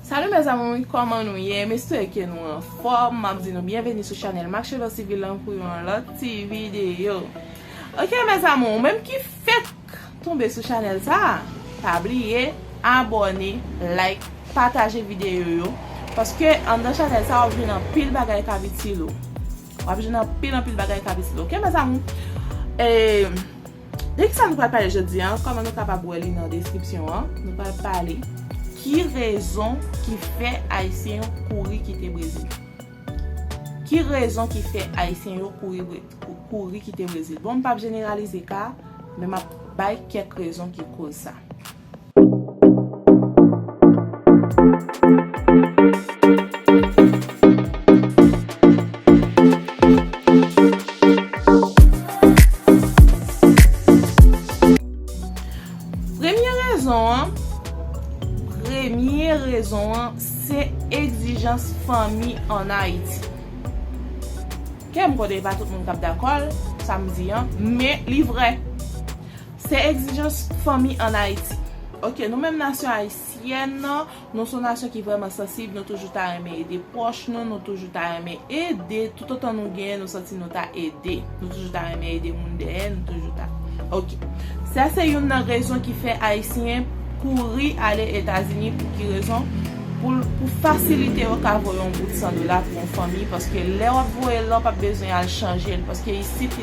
Salut mes amours kòman nou ye m espere ke nou anfòm map di nou byenveni sou chanèl Marcello Civil lan pou yon lòt ti videyo ok mes amours ou menm ki fèk tonbe sou chanèl sa pa bliye abòne like pataje videyo yo paske anndan chanèl sa wap jwenn anpil bagay kap itil ou wap jwenn anpil anpil bagay kap itil ou ok mes amours e. Dèk sa nou pral pale jodi an, kòman nou kapab wè li nan deskripsyon an, nou pral pale ki rezon ki fè ayisyen yo kouri kite Brezil. Ki rezon ki fè ayisyen yo kouri kite Brezil? Bon m pap jeneralize ka, men m ap bay kèk rezon ki koz sa. Premye rezon an, premye rezon an, se egzijans fanmi an Ayiti. Ke m konnen pa tout moun k ap dakò l, sa m di an, men li vrè. Se egzijans fanmi an Ayiti. Ok nou menm nasyon ayisyèn nan, nou son nasyon ki vrèman sansib, nou toujou ta renmen ede pwòch nou, nou toujou ta renmen ede, toutotan nou genyen nou santi nou ta ede, nou toujou ta renmen ede moun dèyè, nou toujou ta ok. Sa se youn nan rezon ki fè ayisyen kouri ale etazini pou ki rezon, pou pou fasilite yo ka voye yon bout 100 dola pou yon fanmi paske lè wap voye la ou pap bezwen al chanjel paske isit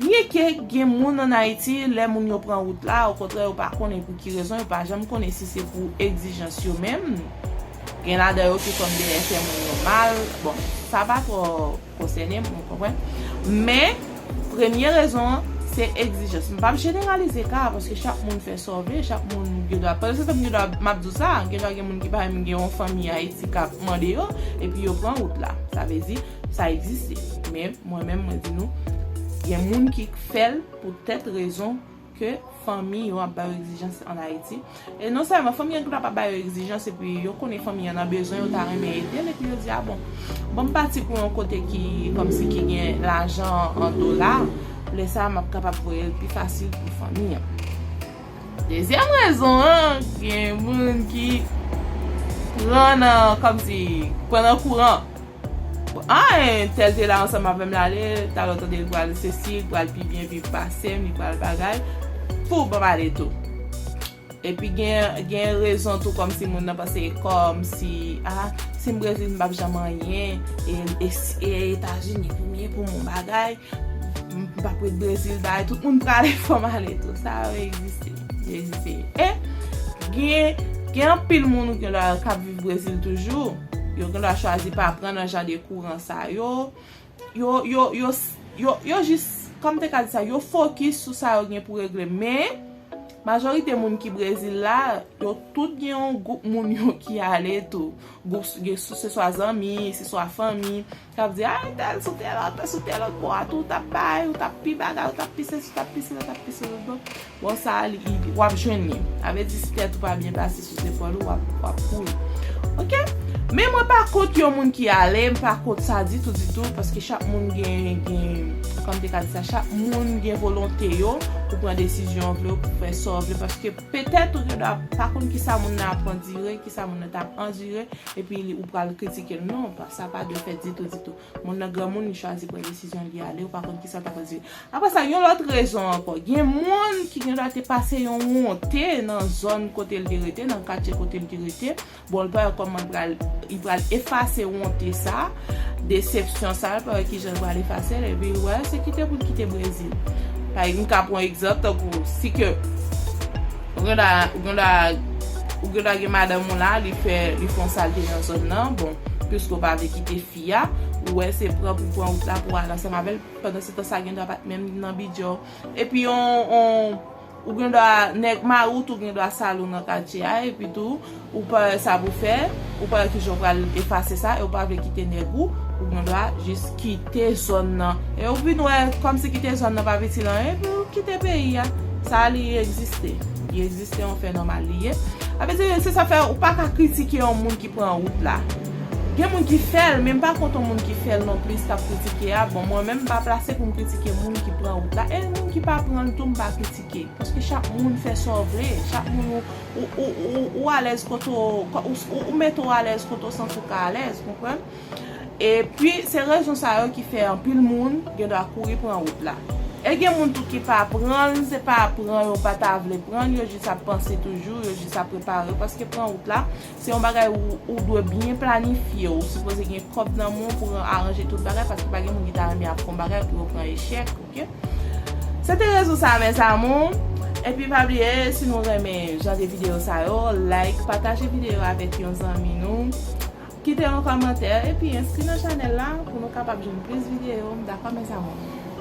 Byen ke gen moun an Ayiti, lè moun yo pran wout la, okontrè yo pa konnen pou ki rezon, yo pa janm konnen si se pou egzijans yo menm, gen ladan yo ki konn dèyè fè moun yo mal, bon, sa pa twò konsène m, ou konprann. Men, premye rezon an, se egzijans. M pap jeneralize ka a, paske chak moun fè sa w vle, chak moun gen dwa, pa egzanp, gen dwa, m ap di w sa, gen dwa gen moun ki pa menm gen yon fanmi Ayiti k ap mande yo, epi yo pran wout la. Sa vle di. Sa egziste. Men, mwen menm mwen di nou, gen moun ki k fè l pou tèt rezon ke fanmi yo ap ba yo egzijans an Ayiti. E non sèlman, fanmi an ki pap ap ba yo egzijans epi yo konnen fanmi an nan bezwen, yo ta renmen ede l epi yo di a bon, ban m pati pou yon kote ki kòmsi ki gen lajan an dola, lè sa a m ap kapab voye l pi fasil pou fanmi an. Dezyèm rezon an, gen moun ki pran nan, kòmsi, pran nan kouran. A, entèl te la ansanm avè m lale, talon tande li pral sesi, li pral pi byen viv pase m, li pral bagay, pou ban m ale tou. Epi gen rezon tou kòmsi moun nan panse kòmsi, a, si m Brezil m p ap janm anyen, e Etazini pou m ye pou m yon bagay. Mpap ret brezil bay tout moun prale fòm ale tou sa yo egziste yo egziste e gen anpil moun ou gen dwa kap viv brezil toujou yo gen dwa chwazi pa pran nan jan de kouran sa yo yo jis kòm te ka di sa yo fokis sou sa yo gen pou regle men majorite moun ki brezil la yo tout gen yon gwoup moun yo ki ale tou se swa zanmi se swa fanmi K ap di, Aritèl sou tèl anpè, sou tèl lòt bò a tou, ou t ap bay, ou t ap pi bagay, ou t ap pi sesi, ou t ap pi sila, ou t ap pi sila lòt bò. Bon, sa a, w ap jwenn li. Sa vle di si tèt ou pa byen pase sou zepòl ou, w ap kouri. Oke? Men mwen pa kont yon moun ki ale, m pa kont sa ditou ditou, paske chak moun gen, gen, kòman m te ka di sa, chak moun gen volonte yo pou pran desizyon w vle yo, pou fè sa w vle, paske petèt ou gen dwa pa konn kisa moun nan ap andire, kisa moun nan t ap andire. Epi ou pral kritikel non sa pa dwe fèt ditou ditou moun nan granmoun li chwazi pran desizyon li ale ou pa konn kisa ta pral rive aprè sa yon lòt rezon ankò gen moun ki gen dwa te pase yon wonte nan zòn kote li te rete nan katye kote li te rete bon li pa wè kòman li pral li pral efase wonte sa. Desepsyon sa l pa wè kijan l pral efase l epi l wè se kite pou l kite Brezil. Pa m ka pran egzanp tankou si ke ou gen dwa ou gen dwa ou gen dwa gen madanm ou la li fè li fon salte nan zòn nan bon piske ou pa vle kite fi a ou wè se pran pou pran wout la pou al ansanm avè l pandansetan sa gen dwa pa t menm nan bidjè w epi on on Ou gen dwa nèg mari w tou gen dwa sal ou nan katye a epi tou ou pa wè sa pou fè, ou pa wè kijan ou pral efase sa e ou pa vle kite nèg ou, ou gen dwa jis kite zòn nan. E ou vin wè kòmsi kite zòn nan pa piti nan anyen epi ou kite peyi a. Sa li egziste. Li egziste yon fè nòmal li ye. Sa vle di se sa fè ou pa ka kritike yon moun ki. pran wout la gen moun ki fèl men m pa kont yon moun ki fèl non plis kap kritike a bon mwen menm m pa plase pou m kritike moun ki pran wout la e moun ki pa pranl tou m pa kritike paske chak moun fè sa w vle chak moun ou alèz kote w ou mete w alèz kote w santi w ka alèz konprann e pi se rezon sa yo ki fè anpil moun gen dwa kouri pran wout la e gen moun tou ki pa pranl se pa pran yo pa ta vle pranl yo jis ap panse toujou yo jis ap prepare paske pran wout la Se yon bagay ou dwe byen planifye, ou sipoze gen kòb nan men w pou aranje tout bagay paske pa gen moun ki ta renmen ap fè yon bagay epi yo pran echèk ok. Se te rezon sa mes amours, epi pa bliye si nou renmen jan de videyo sa yo like, pataje videyo avèk yon zanmi nou, kite yon kòmantè epi enskri nan chanèl la pou nou kapab jwenn plis videyo, dakò mes amours.